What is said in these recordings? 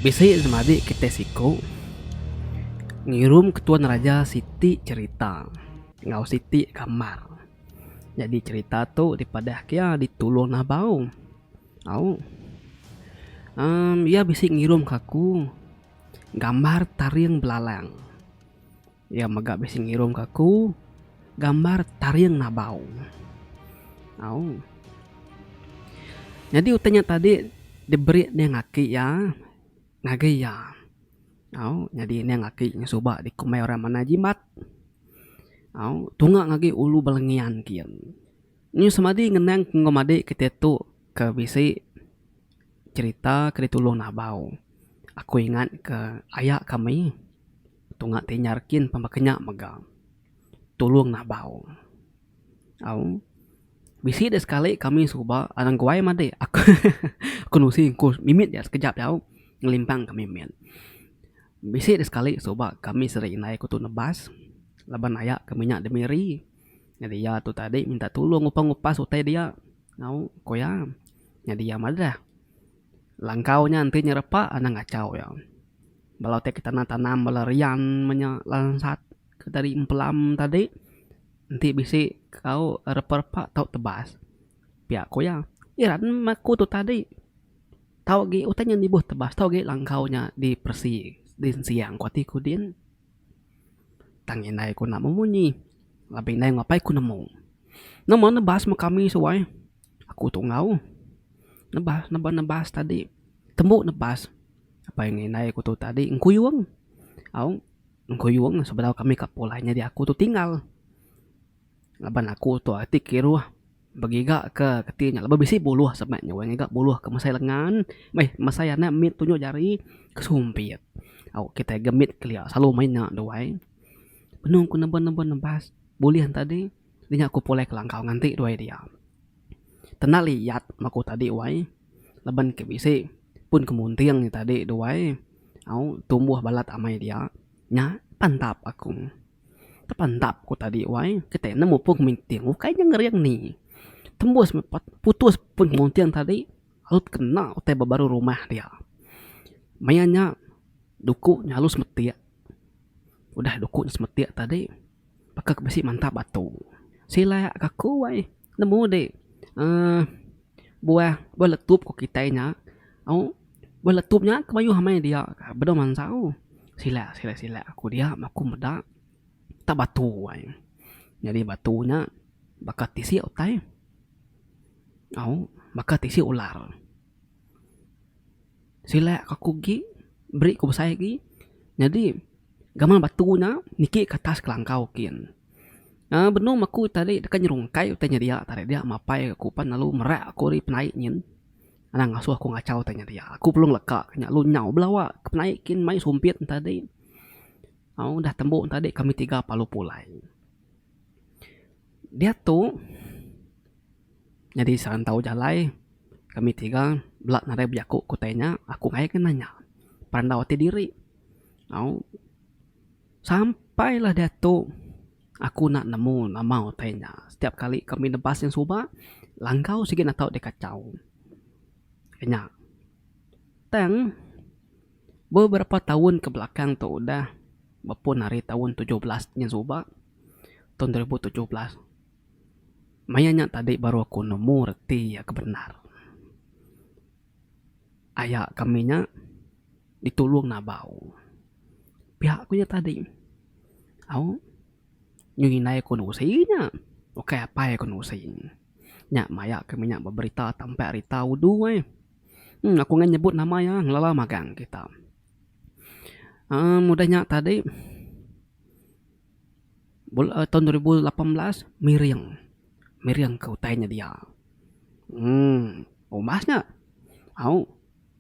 Bisi semadi kitai siku ngirum ke tuan raja siti cherita enggau siti gambar. Nyadi cherita tu dipadah ke iya di Tulong Nabau. Au uhh iya bisi ngirum ke aku gambar taring belalang. Iya mega bisi ngirumka aku gambar taring nabau. Au. Nyadi utai nya tadi diberi Neng Aki iya ngagai iya. Au, nyadi Neng Aki nya suba dikumbai orang manah jimat. Au, tunga ngagai ulu bala ngian kiye. Nya semadi ngenang enggau madik kitai tu ke bisi cherita ke ditulung nabau. Aku ingatka aya kami. Tunga ti nyar kin pan baka nya mega tulung nabau. Au bisi deh sekali kami suba anang guai madik aku nusi engku mimit aja sekejap aja au ngelimpang kami meh. Bisi deh sekali suba kami seri indai aku tu nebas laban aya kami nya demiri nyadi iya tu tadi minta tulung ngupas ngupas utai dia au ku iya nyadi iya madah langkau nya enti nyerepa anang kacau iya. Bala utai ke tanam tanam bala rian meh nya lansat ke tadi empelam tadi enti bisi tau repa repa tau tebas pia ku iya. Iya meh aku tu tadi tau agi utai nya nibuh tebas tau agi langkau nya diperesi din siang ku ati ku din tang indai ku nak bemunyi laban indai ngapai ku nemu. Nama nebas meh kami suai. Aku tu enggau nebas neba nebas tadi tembu nebas apai ngan indai aku tu tadi engkuyung au engkuyung sebedau kami ka pulai nyadi aku tu tinggal laban aku tu ati kiruh begiga ke keti nya laban bisi buluh sema nya wang iga buluh ke mesai lengan meh mesai anak mit tunjuk jari ke sumpit au kitai ga mit kelia selalu main nya duai penu ku neba neba nebas bulih tadi. Dinga ku pulai kelangkau nganti duai dia. Tenda li yat maku tadi wai laban ke bisi pun ke munting nya tadi duai au tumbuh balat amai dia nya pantap aku. Tepantap ku tadi wai kitai ne mupung minting ukai nya ngering ni tembus putus pun munting tadi lalu tekena utai ba baru rumah dia. Maya nya duku nya lalu semetik udah duku semetik tadi. Baka ke bisi mantap atu. Sila ka aku ai nemu di uhh buah buah letup ku kitai nya. Au buah letup nya ke mayuh amai dia ka benung mansau. Sila sila sila ku dia ma ku meda tak batu ai. Nyadi batu nya baka tisi utai. Au baka tisi ular. Silak ka aku agi beri ku besai agi nyadi gamal batu nya niki ka atas kelangkau kin. Aaa benung aku ita ari deka nyerungkai utai nya dia tarik dia mapai aku pan lalu merak aku ari penai nyin anang ngasuh aku ngachau utai nya dia. Aku perlu ngeleka ka nya lalu nyau belawa ke penai kin mai sumpit enta adi. Au udah tembu enta adi kami tiga palu pulai. Diatu. Nyadi serantau jalai kami tiga bela nadai bejaku ke utai nya aku ngaya ke nanya perandau ati diri au sampai lah diatu aku nak nemu nama utai nya setiap kali kami nebas nya suba langkau sigi natau dek kachau nya tang beberapa taun ke belakang tu udah bepun ari taun tujuh belas nya suba taun dua ribu tujuh belas. Maya nya tadi baru aku nemu reti iya ke bendar. Aya kami nya ditulung nabau piak aku nya tadi. Au nyuh indai aku nya usi nya ukai apai aku nya usi. Nya maya kami nya ba berita tampa rita udu ai. Em aku ngga nyebut nama iya ngelala magang kita. Em udah nya tadi. Bula taun dua ribu lapan belas miring, miring ka utai nya dia uhh umbas nya au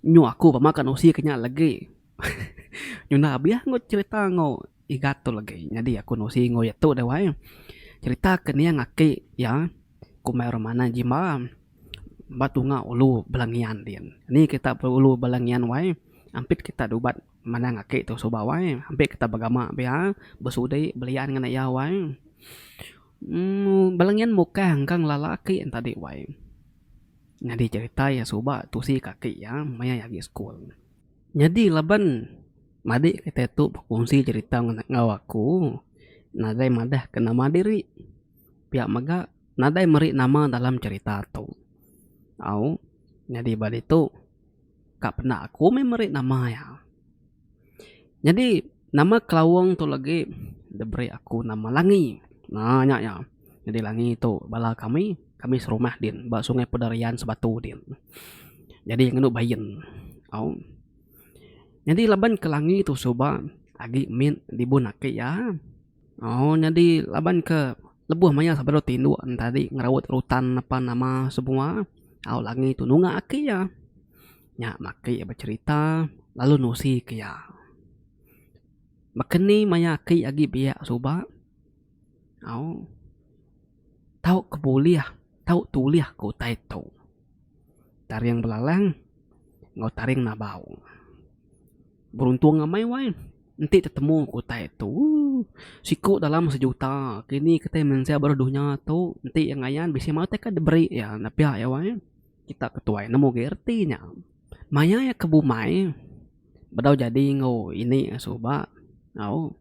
nyu aku pama ka nusi ka nya legi nyuna abih ku cerita enggau igat tu legi nyadi aku nusi enggau iya tu deh wai cerita ke ning aki iya kumbai orang manah jimba ba tunga ulu bala ngian din. Nih kita ulu bala ngian wai ampit kita ubat. Manang aki tu suba wai ampik kita begama pia besudi belian ngan iya wai uhh bala nyin mukah engka ngelala aki nya tadi wai nyadi cerita iya suba tusi ka aki iya maya iya agi school. Nyadi laban madik kitai tu bekunsi cerita enggau aku nadai madah ke nama diri pia mega nadai meri nama dalam cerita tu au nyadi ba ditu. Ka penda aku meh meri nama iya. Nyadi nama Kelawong tu legi diberi aku nama Langi. Nah nya iya. Nyadi Langi tu bala kami, kami serumah din ba Sungai Pederian Sebatu din. Nyadi iya ngenu Bayen. Au. Nyadi laban ke Langi tu suba agi min libun aki iya. Au nyadi laban ke lebuh maya sapa dulu ti indu tadi ngeraut rutan apan nama semua au langi tu nunga aki iya. Nya aki becerita lalu nusi ke iya. Baka ni maya aki agi biak suba au tau ke bulih tau tulih ke utai tu. Taring belalang enggau taring nabau. Beruntung amai wai enti tetemu ku utai tu. Siku dalam sejuta kini kitai mensia baruh dunya tu enti iya ngayan bisi mauh utai ka diberi iya enda piak iya wai. Kita ke tuai nemu agi reti nya. Maya iya ke bumai bedau jadi enggau ini iya suba au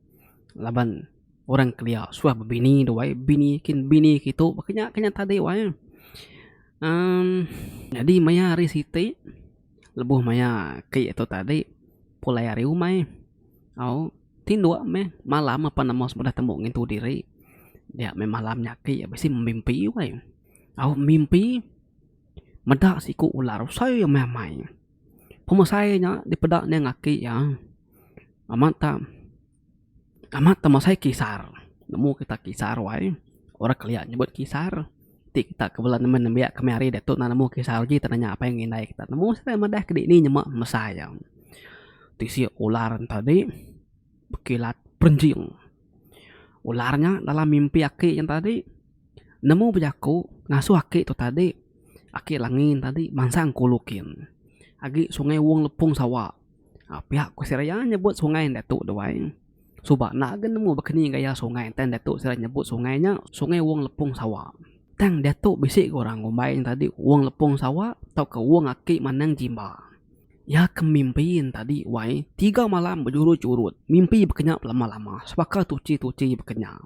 laban orang kelia suah bebini tu wai bini kin bini ke itu ba ke nya ke nya tadi wai. Amm jadi maya hari siti. Lebuh maya ke itu tadi pulai ari umai au tinduk meh malam apan amoh udah tembu ngintu diri dia meh malam nya aki bisi memimpi weh au mimpi meda siku ular besai amai amai pemesai nya dipeda neng aki iya amat tak. Kama temu sai kisar. Nemu kita kisar wai orang kelia nyebut kisar ti kita ke bela nemu nembiak kami hari diatu na nemu kisar uji tau nanya apai ngan indai kita. Nemu siti madah ke dini nyema mesa iya. Tisi ular enta di bekilat perenjing. Ular nya dalam mimpi aki nya tadi nemu bejaku ngasuh aki tu tadi aki langin tadi mansang kulu kin agi sungai wong lepong sawa. Pia ku sida iya nyebut sungai enda tu duai suba enda ga nemu bakani gaya sungai enta enda tu sida nyebut sungai nya sungai wong lepong sawa. Tang diatu bisi ga orang ngumbai ne tadi wong lepong sawa tauka wong aki manang jimba. Iya ke mimpi ne tadi wai tiga malam bejurut-jurut mimpi bakanya belama-lama sebaka tuchi-tuchi bakanya.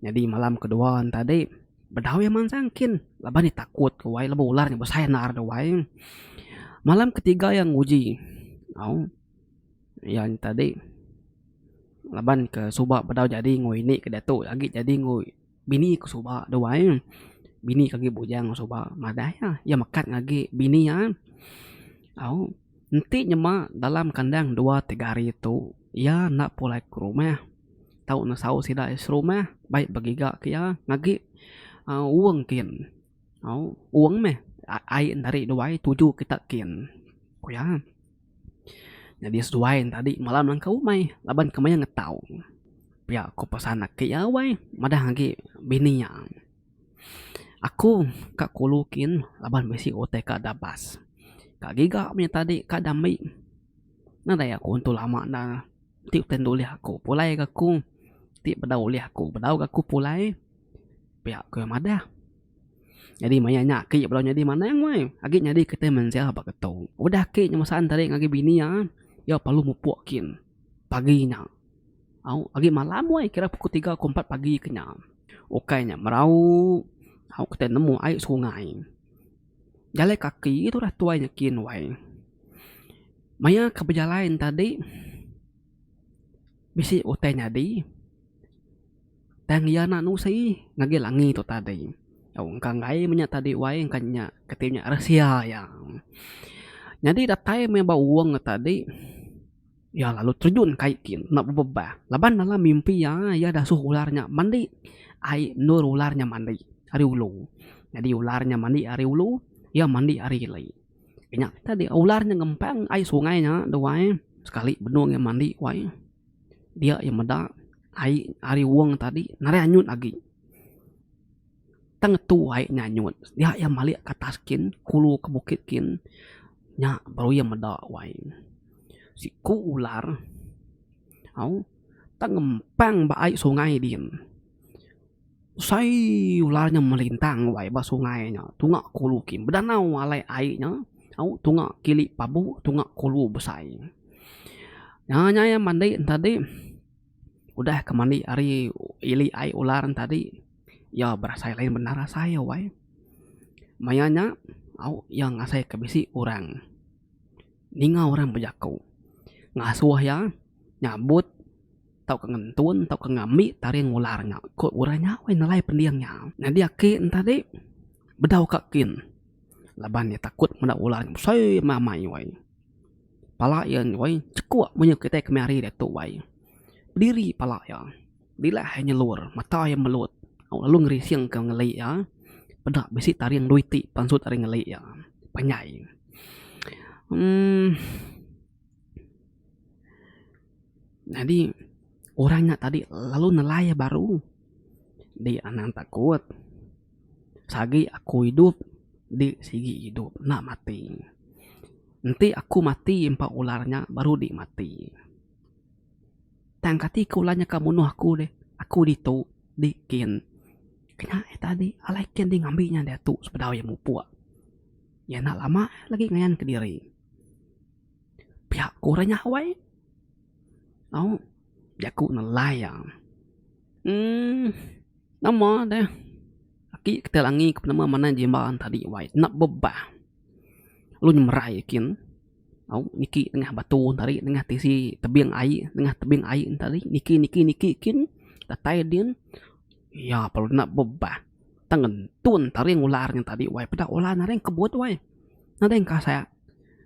Nyadi malam ke dua ne tadi bedau iya mansang kin laban iya takut ke wai laban ular nya besai endar ke wai. Malam ke tiga iya nguji au iya nya tadi laban ke suba bedau jadi enggau ini ke diatu agi jadi enggau bini ke suba da wai. Bini ke agi bujang ke suba madah iya. Iya mekat ngagi bini iya au enti nyema dalam kandang dua tiga hari tu iya enda pulai ke rumah. tau ne saut sida iya serumah baik begiga ke iya ngagi um uong kin au uong meh ai enda ri duai tuju kita kin ku iya nyadi seduai ne tadi malam langkah umai laban ke maya ngetau pia ku pesan aki iya wai madah agi bini iya aku ka kulu kin laban bisi utai ka da bas ka giga meh tadi ka da mei nadai aku tu lama enda. Ti betentu ulih aku pulai ga aku ti bedau ulih aku bedau ga aku pulai pia ku iya madah. Nyadi maya nya aku bedau nyadi manah angai agi nyadi kitai mensia ba ke tu. Udah aku ngemesan tadi ngagai bini iya iya perlu mupuk kin pagi nya au agi malam wai kira pukul tiga pukul empat pagi ke nya ukai nya merau au kitai nemu ai sungai. Jalai kaki tu udah tuai nyakin wai. Maya ke bejalai tadi bisi utai nyadi tang iya enda nusi ngagai langi tu tadi. Au engka enggai meh nya tadi wai engka nya ke ti nya rahsia iya. Nyadi datai meh ba uwang tadi. Iya lalu terjun kai ti enda bebebah laban dalam mimpi iya, iya dasuh ular nya mandi ai endur ular nya mandi ari ulu. Nyadi ular nya mandi ari ulu, iya mandi ari ili. Nya tadi ular nya ngempang ai sungai nya tu ai, sekali benung iya mandi ku ai dia iya meda ai ari wong tadi nadai anyut agi. Tang tuai nyanyut dia iya malik ke atas kin kulu ke bukit kin nya baru iya meda wai siku ular au tang ngempang ba ai sungai din usaii ular nya melintang wai ba sungai nya tunga kulu kin bedanau alai ai nya au tunga kili pabu tunga kulu besai nya nya iya mandi ntadi udah ke mandi ari ili ai ular ntadi. Iya berasai lain bendar asai iya wai. Maya nya au iya ngasai ke bisi orang ninga orang bejaku ngasuh iya nyabut tauka ngentun tauka ngambi taring ular nya ku orang nya wai nelai pending iya. Nyadi aki ne tadi bedau ka kin laban iya takut meda ular nya besai amai amai wai. Pala iya wai chekuk munyi kitai kemari diatu wai. Pediri pala iya. Dilah iya nyelur, mata iya melut, au lalu ngerisingka ngeli iya. Peda bisi taring dua iti pansut ari ngeli iya. Panjai. Umm. Nyadi orang nya tadi lalu nelai iya baru. Dik anang takut. Sagi aku idup, dik sigi idup. Enda mati. Enti aku mati empa ular nya, baru dik mati. Tang kati ku ulah nyaka munuh aku deh. Aku ditu di kin. Kena eh tadi alai kin ti ngambi nya diatu sebedau iya mupuk. Iya enda lama lagi ngayan kediri. Pia ku orang nya awai. Au jaku nelai iya. Uhh nama deh aki ke ti langi ke penemu manah jimba tadi wai. Enda bebah. Lalu nyemerai iya kin. Au niki nengah batu tadi nengah tisi tebing ai nengah tebing ai tadi niki niki niki kin datai din iya pala enda bebah tang ngentun taring ular nya tadi wai peda ular naring kebut wai nadai kasek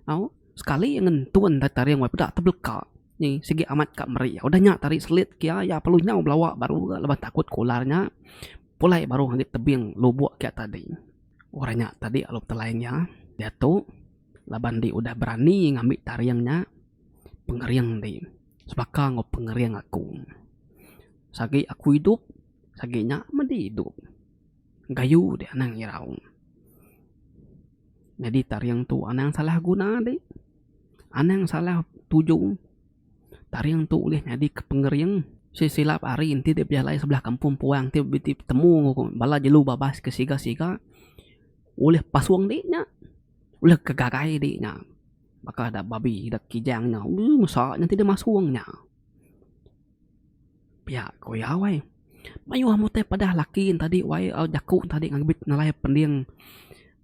au sekali ngentun nda taring wai peda tebelka ni sigi amat ka meri udah nya tadi selit ke iya iya perlu nyau belawa baru ga leban takut ke ular nya pulai baru ngambi tebing lubok ke tadi orang nya tadi lalu telai nya diatu. Laban enti udah berani ngambi taring nya, pengering ti sebaka enggau pengering aku. Sagi aku idup, sagi nya medi idup. Gayu dek anang irau. Nyadi taring tu anang salah guna dek. Anang salah tuju. Taring tu ulih nyadi ke pengering. Sik silap hari enti dek bejalai sebelah kampung puang ti beti betemu enggau bala jelu babas ke siga-siga, ulih pasung dek nya. Ulih ke garai dik nya. Baka da babi da kijang nya. Ui mesa nya ti da masung nya. Piak ko iya wai. Mayuh amu tai padah laki ne tadi wai au jaku ne tadi ngan bit nalai pending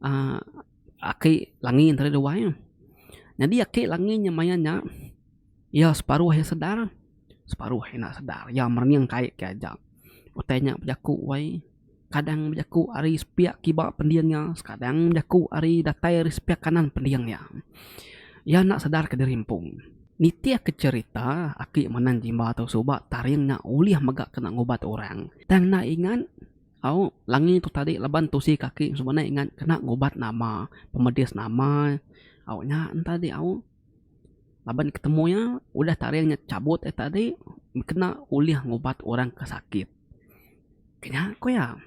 uhh aki langi ne tadi wai. Nyadi aki langi nya maya nya iya separuh iya sedar separuh iya enda sedar. Iya merening kai ke aja. Utai nya bejaku wai. Sekadang bejaku ari sepiak kiba pending iya, sekadang bejaku ari datai ari sepiak kanan pending iya. Iya enda sedarka diri empu. Nitihka cherita, aki Manan Jimba tu suba taring nya ulih mega kena ngubat orang. Tang enda ingat au langi tu tadi laban tusi kaki suba enda ingat kena ngubat nama, pemedis nama au nya tadi au. Laban ketemu iya, udah taring nya chabut ari tadi kena ulih ngubat orang ke sakit. Ke nya ku iya.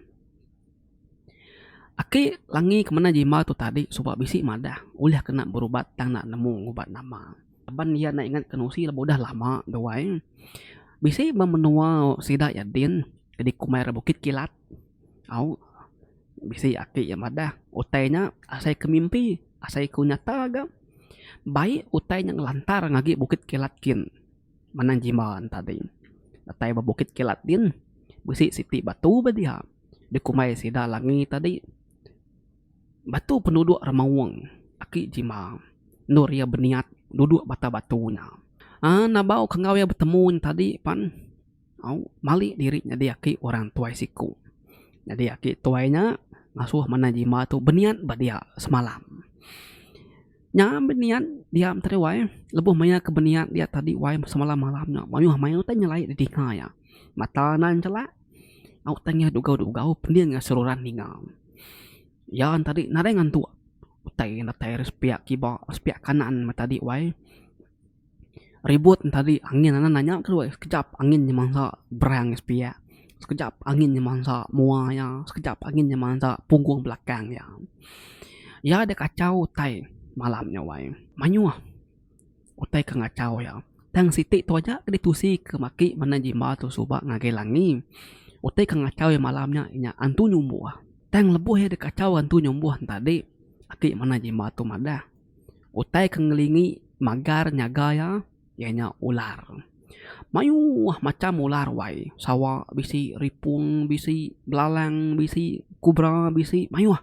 Aki langi ke menda jimba tu tadi suba bisi madah udah kena berubat tang enda nemu ubat nama. Laban iya enda ingat ke nusi laban udah lama gawai. Bisi ba menua sida iya din ke dikumbai orang Bukit Kilat. Au, bisi ati iya madah, utai nya asai ku mimpi, asai ku nyata ga. Baik utai nya ngelantar ngagai Bukit Kilat kin manang Jimban tadi. Utai ba Bukit Kilat din, bisi siti batu ba dia dikumbai Sida Langi tadi. Batu penuduk ra maung aki Jimba endur iya beniat duduk ba atas batu nya. Aa, nabau kengau iya betemu nya tadi pan. Au mali diri nyadi aki orang tuai siku. Nyadi aki tuai nya ngasuh manah jimba tu beniat ba dia semalam. Nya beniat diam tadi wai lebuh maia ke beniat dia tadi wai semalam malam nya mayuh mayuh utai nyelai di dinga iya. Mata nan chelak au tengah dugau dugau pening iya seruran ninga. Iya tadi nadai ngantuk utai datai ari sepiak kiba sepiak kanan meh tadi wai. Ribut ne tadi angin anan nya ke due sekejap angin nya mansa brang iya sepiak sekejap angin nya mansa mua iya sekejap angin nya mansa punggung belakang iya. Iya da kachau utai malam nya wai mayuh utai ke ngachau iya tang siti tu aja ke ditusi ke maki manah jimba tu suba ngagai langi utai ke ngachau iya malam nya inya antu nyumbuh tang lebuh iya da kachau antu nyumbuh ne tadi aki manah jimba tu madah. Utai ke ngelingi magar nyaga iya, iya nya ular. Mayuh macham ular wai. Sawa bisi, ripung bisi, belalang bisi, kubra bisi, mayuh.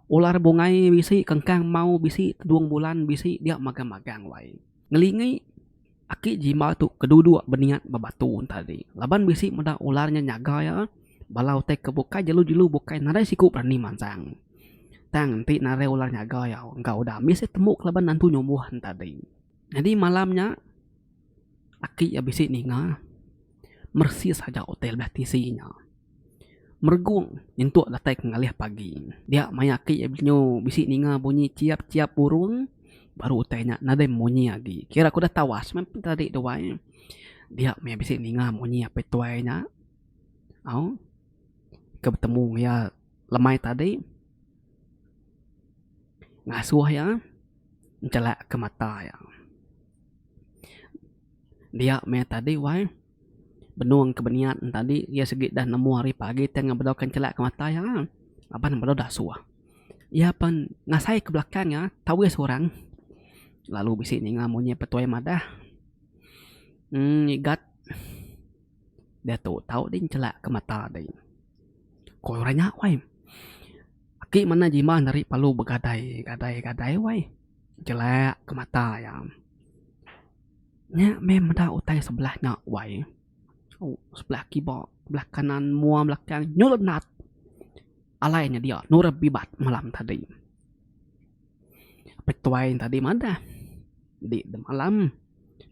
Ular bungai bisi, kengkang mau bisi, tedung bulan bisi, dia magang-magang wai. Ngelingi aki jimba tu ke duduk beniat ba batu tadi laban bisi meda ular nya nyaga iya bala utai ke bukai jelu-jelu bukai nadai siku berani mansang. Tang enti narai ular nyaga iya enggau udah ambis iya tembu kelaban nantu nyumbuh ne tadi. Nyadi malam nya aki iya bisi ninga. meresi saja hotel belah tisi nya. Meregung nyentuk datai ke ngalih pagi. Dia maya aki iya benyo bisi ninga bunyi chiap chiap burung baru utai nya nadai munyi agi. Kira ku dah tawas meh tadi tu wai. Dia meh bisi ninga munyi apai tuai nya au ke betemu enggau iya lemai tadi ngasuh iya nchelak ke mata iya. Dia meh tadi wai. Benung ke beniat ne tadi iya sigi dah nemu hari pagi tang iya bedauka chelak ke mata iya laban ne bedau dasuh. Iya pen ngasai ke belakang iya tauh seorang lalu bisi ninga munyi petuai madah uhh ngigat diatu tauh ding chelak ke mata ding. Ku orang nya wai aki manah jiman ari palu begadai gadai gadai wai chelak ke mata iya. Nya meh meda utai sebelah nya wai sebelah kiba sebelah kanan mua belakang nyulut nat alai nya dia nureh bibat malam tadi. Petuai tadi madah di malam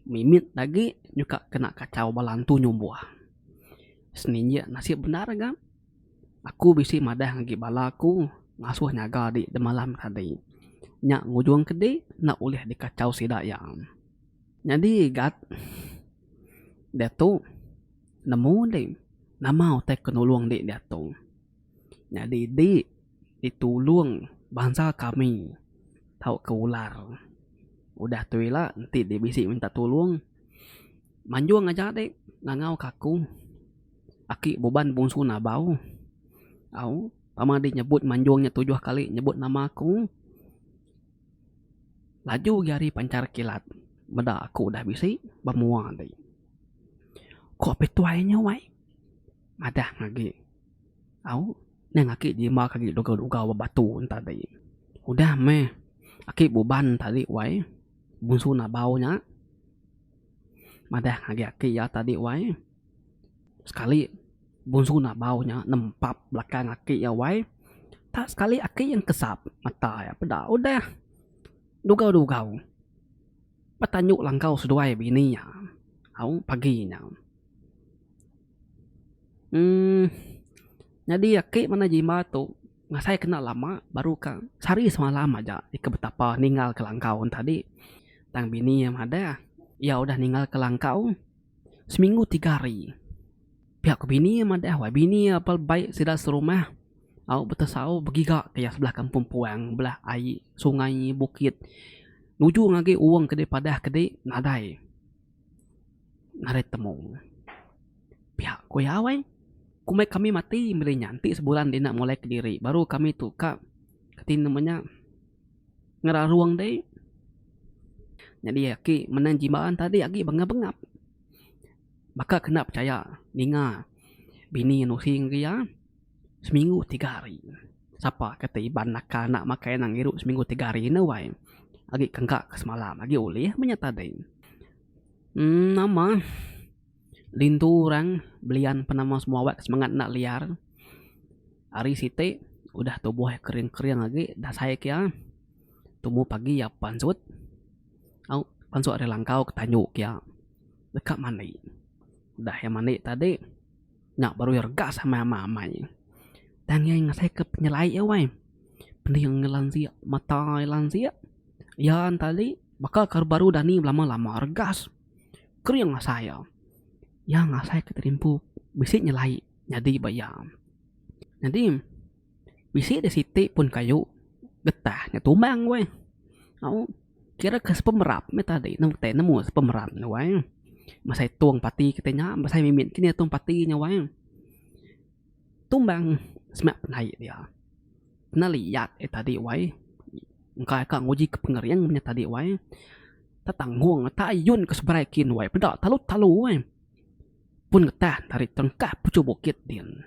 mimit agi nyuka kena kachau bala entu nyumbuh. Seninjik nasib bendar ga. Aku bisi madah ngagi bala aku ngasuh nyaga dik demalam tadi. Nya ngujung ke dik enda ulih dikachau sida iya. Nyadi gat diatu nemu dik nama utai ke nulung dik diatu. Nyadi dik ditulung bansa kami tauka ular. Udah tu ila enti dik bisi minta tulung manjung aja dik ngangau ke aku. Aki Buban Bungsu Nabau. Au, pama di nyebut manjung nya tujuh kali nyebut nama aku. Laju agi ari panchar kilat meda aku udah bisi ba mua agi. Ko Pituai nya wai madah agi. Au, nang aki jimbak agi dugau-dugau ba batu tadi. Udah meh Aki Buban tadi wai Bungsu Nabau nya madah agi aki iya tadi wai. Sekali Bunsu Nabau nya nempap belakang aki iya wai, tak sekali aki iya nekesap mata iya peda udah dugau-dugau betanjok langkau seduai bini iya au pagi nya. uhh nyadi aki manah jimat tu ngasai kena lama baru ka sehari semalam aja ika betapa ninggalka langkau tadi tang bini iya madah iya udah ninggalka langkau. Seminggu tiga hari. Pihak ke bini iya madah wai bini iya apal baik sida serumah au betesau begiga ke iya sebelah kampung puang belah ai sungai bukit nuju ngagai owong ke dipadah ke di nadai ngarit temu. Pihak ku iya wai komai kami mati meri nya enti sebulan dina molai kediri baru kami tu ka ke tine menya. ngerarung ti nyadi aki menang jimat tadi agi bengap-bengap baka ke enda pechaya ninga bini nusing ke iya seminggu tiga hari sapa kata iban naka enda makai anak ngiru seminggu tiga hari enda wai agi kengka ke semalam agi ulih menya tadi uhh nama Lintu orang belian penama semua awak ke semangat enda liar hari siti udah tubuh iya kering kering agi dasai kia tumu pagi iya pansut au pansut ari langkau ke tanyu kia deka mandi udah iya mandi tadi nya baru iya regas amai ama amai tang iya ngasai ke penyelai iya wai pening iya lansik mata iya lansik iya tadi baka baru dani belama lama regas. Kering asai iya. Iya ngasai ke terimpu bisi nyelai nyadi ba iya. Nyadi bisi deh siti pun kayu getah nya tumbang ku ai. Au kira ke sepemerap meh tadi nemu tai nemu sepemerap nya wai. Masai tong pati kitai nya masai mimit kinih tong pati nya wai. Tumbang semak penai dia. Kena liat e tadi wai. Engka ka nguji ke pengering nya tadi wai. Tetanggung ata ayun ke seberai kin wai. Peda talu-talu wai. Pun ngetah ari tengkah puchung bukit din.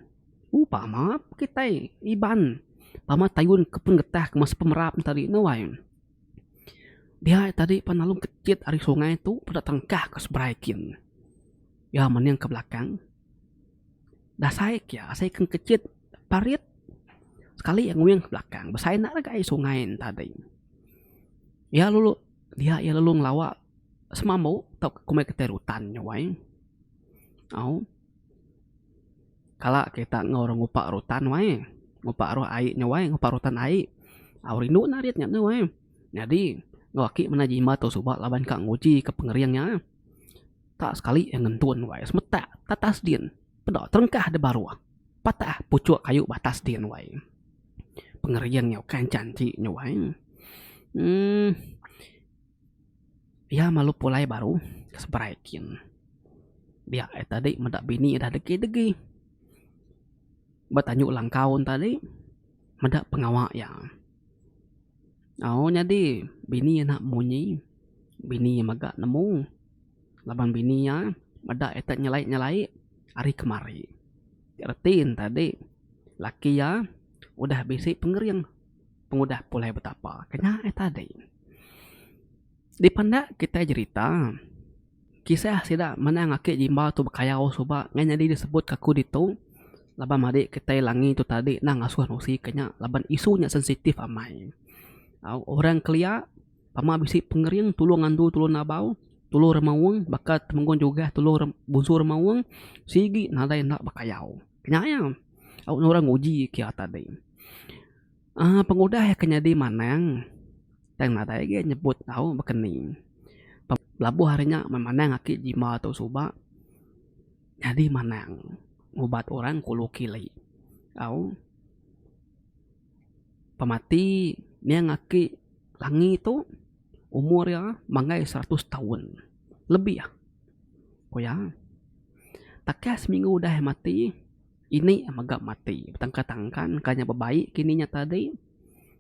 U pama kitai Iban. Pama tayun ke pun ngetah ke masa pemerap nya tadi ne wai. Dia e tadi pan lalu kejit ari sungai tu peda tengkah ke seberai kin. Iya mening ke belakang. Dasai kia asai ke kecit parit sekali iya nguing ke belakang besai enda deka iya sungai tading. Iya lalu dia iya lalu ngelawa semambu tau ke kumbai kitai rutan nya wai au kala kita enggau orang ngupa rutan wai ngupa ruh ai nya wai ngupa rutan ai au rindu nya arit nya tu wai. Nyadi enggau aki menda jimat tau suba laban ka nguji ka pengering nya. Ka sekali iya ngentun wai semetak tatas din peda terengkah di baruh patah puchuk kayu ba atas din wai. Pengering iya ukai enchang ti nya wai uhh iya malu pulai baruh ke seberai kin dia iya tadi meda bini dah degi degi ba tandu langkau tadi meda pengawa iya. Au nyadi bini iya enda munyi, bini iya mega nemu laban bini iya meda ita nyelai-nyelai ari kemari. Ti reti ne tadi laki iya udah bisi pengering pengudah pulai betapa. Ke nya eh tadi. Dipandak kitai jerita, kisah sida manang aki jimba tu bekayau suba ngah nyadi disebut kaku ditu laban madi kitai langi tu tadi enda ngasuh nusi ke nya laban isu nya sensitif amai. Au orang kelia pama bisi pengering tulu ngandu tulu nabau tulu remaung baka temenggung jugah tulu bunsu remaung sigi nadai enda bekayau. Nya iya au orang nguji kia tadi. Pengudah iya ke nyadi manang tang nadai agi nyebut tau baka ni. Belabuh ari nya meh manang aki jimba tu suba nyadi manang ngubat orang kulu kili tau. Pemati niang aki Langi tu umur iya manggai seratus taun lebih ku iya. Takah seminggu udah iya mati. Ini mega mati betangkan-tangkan ka nya bebaik kini nya tadi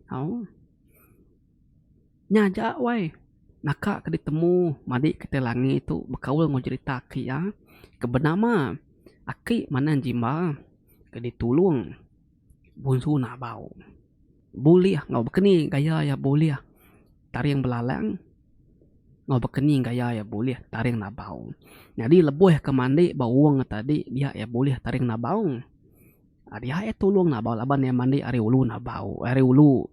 au nya aja wai naka ke ditemu madik ke ti langi tu bekaul enggau jerita aki iya ke benama aki manang jimba ke ditulung bunsu nabau. bulih enggau baka ni gaya iya bulih taring belalang enggau baka ni gaya iya bulih taring nabau. Nyadi lebuh ke mandi ba uweng iya tadi dia iya bulih taring nabau. Dia iya tulung nabau laban iya mandi ari ulu nabau ari ulu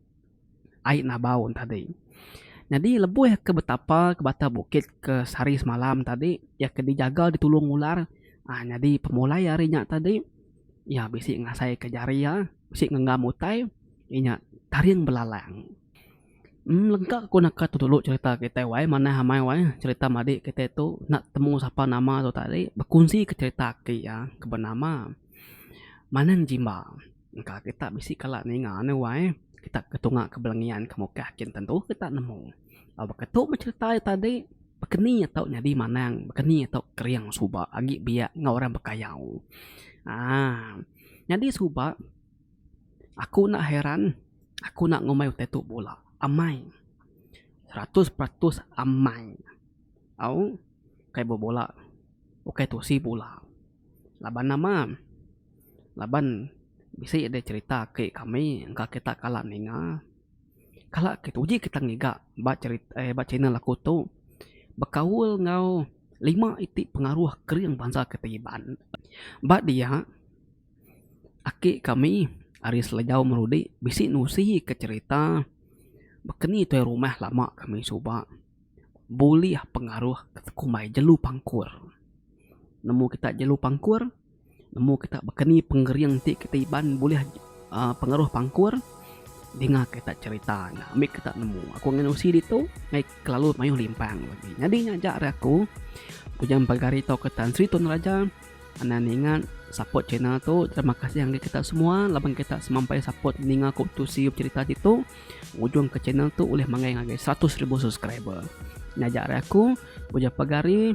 ai nabau tadi. Nyadi lebuh ke betapa ke bata bukit ke sehari semalam tadi iya ke dijaga ditulung ular aaa nyadi pemulai ari nya tadi. Iya bisi ngasaika jari iya bisi ngenggam utai inya taring belalang. Em lengka ku naka tu dulu cerita kitai wai manah amai wai cerita madi kitai tu enda temu sapa nama tu tadi bekunsika cerita aki iya ke benama Manang Jimba. Engka kita bisi kala ninga ne wai kita ke tunga ke Belengian ke Mukah kin tentu kita nemu. Baka tu meh cherita iya tadi, bekeni tau nyadi manang, bekeni tau kering suba agi biak enggau orang bekayau. aaa Nyadi suba aku enda heran aku enda ngumbai utai tu bula. Amai, seratus peratus amai. Au ukai bebula, ukai tusi bula. Laban nama? Laban bisi deh cherita aki kami engka kita kala ninga. Kala ke tu uji kita ngiga ba cherita eh ba channel aku tu bekaul enggau lima iti pengaruh kering bansa ke ti Iban. Ba dia aki kami ari Selejau Marudi bisi nusi ke cherita bekeni tuai rumah lama kami suba bulih pengaruh ke kumbai jelu pangkur. Nemu kita jelu pangkur? Nemu kita bakani pengering ti kita iban bulih pengaruh pangkur dinga kita cherita ne ambi kita nemu aku ngan usi ditu meh kelalu mayuh limpang agi nyadi nya aja ari aku ujan pagari tau ke Tan Sri Tun Raja anan ninga support channel tu terima kasih ngagai kita semua laban kita semampai support ninga ku tusi cherita ditu ngujung ke channel tu ulih manggai ngagai seratus ribu subscriber nya aja ari aku ujan pagari.